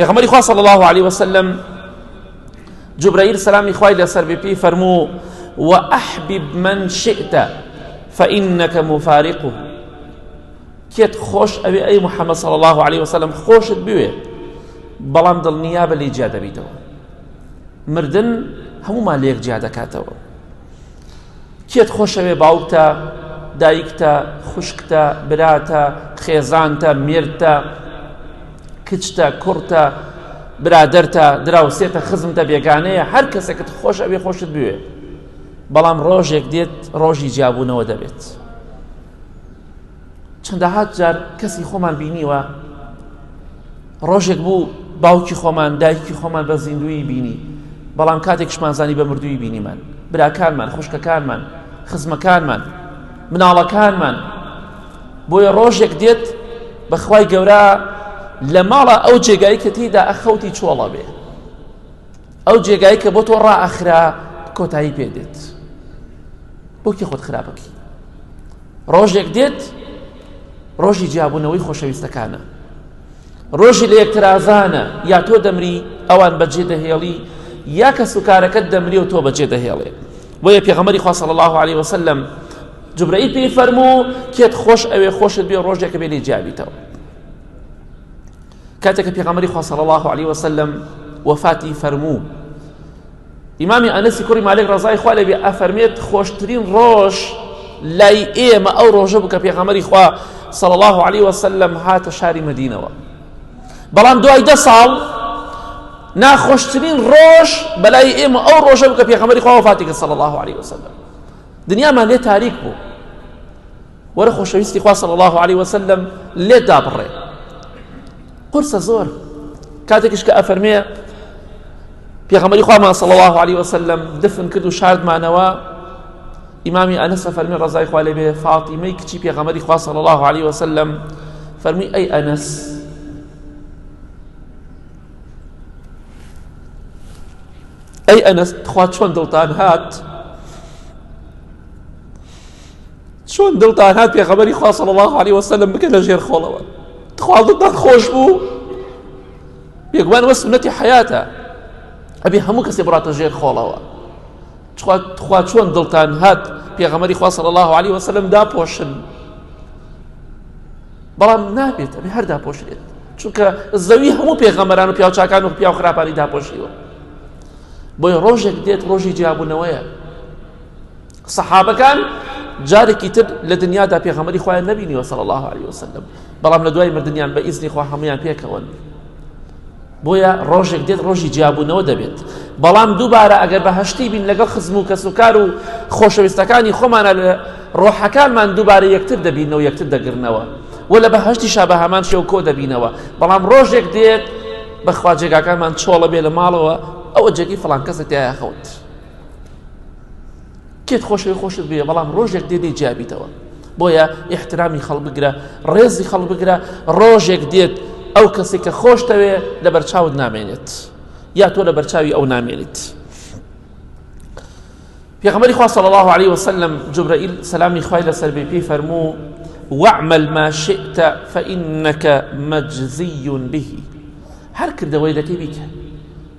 پێغەمبەری خوا صلی الله علیه وسلم جبرائیل سلامی خوای لەسەر بێ پێی فەرموو وأحبب من شئت فإنك مفارقه کێت خۆش ئەوێ ئەی محەممەد صلی الله عليه وسلم خۆشت بوێ بەڵام دڵنیا بە لێ جیا دەبیتەوە مردن هەمومان لێک جیا دەکاتەوە کێت خۆشەوێ باوکتە دایکتە خوشکتە براتە خێزانتە مێردتە کچتە کوڕتە برادەرتە دراوسێتە خزمتە بێگانەیە هەر کەسێکت خۆش ئەوێ خۆشت بوێ بەڵام ڕۆژێک دێت ڕۆژی جیابوونەوە دەبێت چەندەهات جار کەسی خۆمان بینیوە ڕۆژێک بوو باوکی خۆمان دایکی خۆمان بە زیندوی بینی بەڵام کاتێکشمان زانی بە مردووی بینیمان براکانمان خوشکەکانمان خزمەکانمان مناڵەکانمان بۆیە ڕۆژێک دێت بەخوای گەورە لە ماڵە ئەو جێگای کە تێدا ئەخەوتی چۆڵە بێ ئەو جێگای کە بۆ تۆ ڕائەخرا کۆتایی پێ دێت بۆکی خۆت خراپەکی ڕۆژێک دێت ڕۆژی جیابوونەوەی خۆشەویستەکانە ڕۆژی لە یەکترازانە یا تۆ دەمری ئەوان بەجێ دەهێڵی یا کەس و کارەکەت دەمری و تۆ بەجێ دەهێڵێ بۆیە پێغەمەری خوا صلی الله عليه وسلم جبرئیل پێی فەرموو کێت خۆش ئەوێ خۆشت بێ ڕۆژێکە بێنی جیابیتەوە کاتێک کە پێغەمبەری خوا صلی الله علیه و سلم وفاتی فەرموو ئیمامی ئەنەسی کوڕی مالک ڕزای خوا لەبێ ئەفەرمێت خۆشترین ڕۆژ لای ئێمە ئەو ڕۆژە بوو کە پێغەمبەری خوا صلی الله علیه و سلم هاتە شاری مدینەوە بەڵام دوای دە ساڵ ناخۆشترین ڕۆژ بەلای ئێمە ئەو ڕۆژە بوو کە پێغەمبەری خوا وفاتی کرد صلی الله علیه و سلم دنیامان لێ تاریک بوو وەرە خۆشەویستی خوا صلی الله علیه وسلم لێت دابڕێ قورسە زۆر کاتێکش کە ئەفەرمێ پێغەمەری خوامان صلی الله علیه وسلم دفن کرد و شاردمانەوە ئیمامی ئەنس فەرمی ڕزای خوا لێ بێ فاطیمەی کچی پێغەمەری خوا صلی الله علیه وسلم فەرمی ئەی ئەنس ئەی ئەنس تخوا چۆن دڵتان هات چۆن دڵتان هات پێغەمبەری خوا صلی الله علیه و سلم بکە لە ژێر خۆڵەوە تخوا دڵتان خۆش بوو بێگومان وە سنەتی حیاتە ئەبێ هەموو کەسێ بڕاتە ژێر خۆڵەوە تخوا چۆن دڵتان هات پێغەمەری خوا صلی الله علیه و سلم داپۆشن بەڵام نابێت ئەبێ هەر داپۆشێت چونکە زەوی هەموو پێغەمەران و پیاوچکان و پیاو خراپانی داپۆشیوە بۆی ڕۆژێک دێت ڕۆژی جیاببوونەوەیە سەحابەکان جارێکی تر لە دنیادا پێغەمەری خۆیان نەبینیوە سەڵ الله عليه وسلم بەڵام لە دوای مردیان بە ئیزنی خوا هەمویان پێکەوەن بۆیە ڕۆژێک دێت ڕۆژی جیابوونەوە دەبێت بەڵام دووبارە ئەگەر بە هەشتی بین لەگەڵ خزم و کەس و کار و خۆشەویستەکانی خۆمانە لە ڕۆحەکانمان دووبارە یەکتر دەبینەوە یەکتر دەگرنەوە و لە بە هەشتی شا بە هەمان شێو کۆ دەبینەوە بەڵام ڕۆژێک دێت بەخوا جێگاکانمان چۆڵە بێ لە ماڵەوە ئەوە جێگی فڵان کەسە تایە خەوت. کێت خۆشەوی خۆشت بێ بەڵام ڕۆژێک دێ دەی جیابیتەوە بۆیە ئیحترامی خەڵ بگرە ڕێزی خەڵ بگرە ڕۆژێک دێت ئەو کەسێک کە خۆشتەوێ لە بەرچاوت نامێنێت یا تۆ لە بەرچاوی ئەو نامێنیت پێغمەری خوا صلی الله عليه وسلم جبرائیل سەلامی خوای لەسەر بێ پێی فەرموو واعمل ما شئت فإنك مجزي به هەر کردەوەی دەکەی بیکە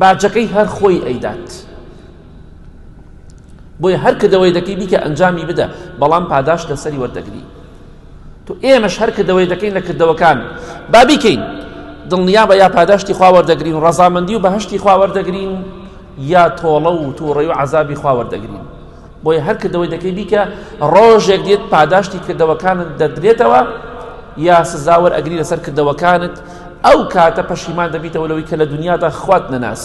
باجەکەی هەر خۆی ئەیدات بۆیە هەر کردەوەی دەکەی بیکە ئەنجامی بدە بەڵام پاداش لەسەری وەردەگری تو ئێمەش هەر کردەوەی دەکەین لە کردەوەکان با بیکەین دڵنیا بە یا پاداشتی خواوەردەگرین و ڕەزامەندی و بەهشتی خواوەردەگرین یا تۆڵە و تووڕی و عذابی خواوەردەگرین بۆیە هەر کردەوەی دەکەی بیکە ڕۆژێک دێت پاداشتی کردەوەکانت دەدرێتەوە یا سزاوەر ئەگری لەسەر کردەوەکانت ئەو کاتە پەشیمان دەبیتەوە لەوەی کە لە دنیادا خوات نەناسی